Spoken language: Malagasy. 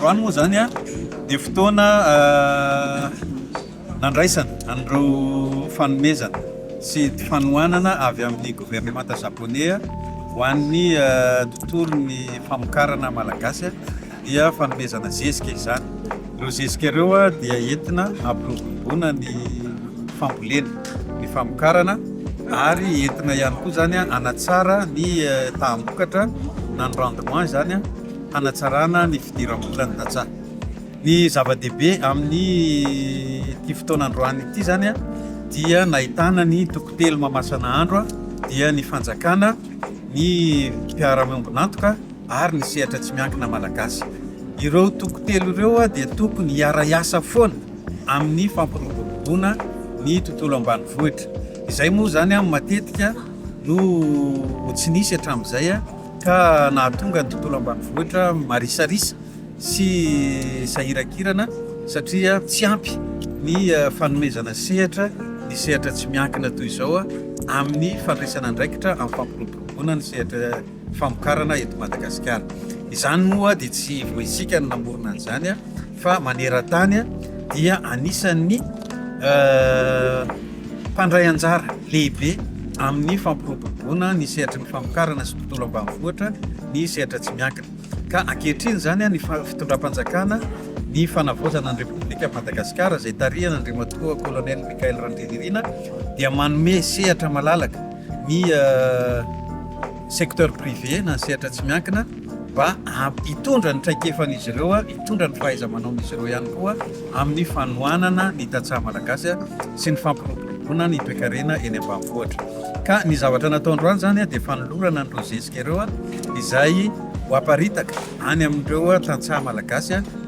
Androany moa zany an, dia fotoana nandraisana an'ireo fanomezana sy fanohanana avy amin'ny governemanta Japoney ho an'ny tontolon'ny famokarana Malagasy. dia fanomezana zezika izany. Ireo zezika ireo dia entina hampiroboroboana ny fambolena, ny famokarana ary entina ihany koa izany hanatsara ny taham-bokatra na ny rendement izany hanatsarana ny fidiram-bolan'ny tantsaha. Ny zava-dehibe amin'ity fotoana androany ity izany dia nahitana ny toko telo mamasana andro dia ny fanjakana, ny mpiara-miombon'antoka, ary ny sehatra tsy miankina malagasy. Ireo toko telo ireo dia tokony hiara-hiasa foana amin'ny fampiroboroboana ny tontolo ambanivohitra. Izay moa izany matetika no tsy nisy hatramin'izay ka nahatonga ny tontolo ambanivohitra marisarisa sy sahiran-kirana satria tsy ampy ny fanomezana sehatra ny sehatra tsy miankina toy izao amin'ny fandraisana andraikitra amin'ny fampiroboroboana ny sehatra famokarana eto Madagasikara. Izany moa dia tsy vao isika no namorona an'izany fa maneran-tany dia anisan'ny mpandray anjara lehibe amin'ny fampiroboroboana ny sehatry ny famokarana sy tontolo ambanivohitra ny sehatra tsy miankina. Ka ankehitriny izany ny fitondram-panjakana ny fanavaozana ny Repoblikan'i Madagasikara izay tarihan'Andriamatoa Kolonely Michael Randrianirina dia manome sehatra malalaka ny secteur privé na ny sehatra tsy miankina mba hitondra ny traikefan'izy ireo, hitondra ny fahaiza-manaon'izy ireo ihany koa amin'ny fanohanana ny tantsaha malagasy sy ny fampiroboroboana ny toekarena eny ambanivohitra. Ka ny zavatra natao androany izany dia fanolorana an'ireo zezika ireo izay ho aparitaka any amin'ireo tantsaha malagasy.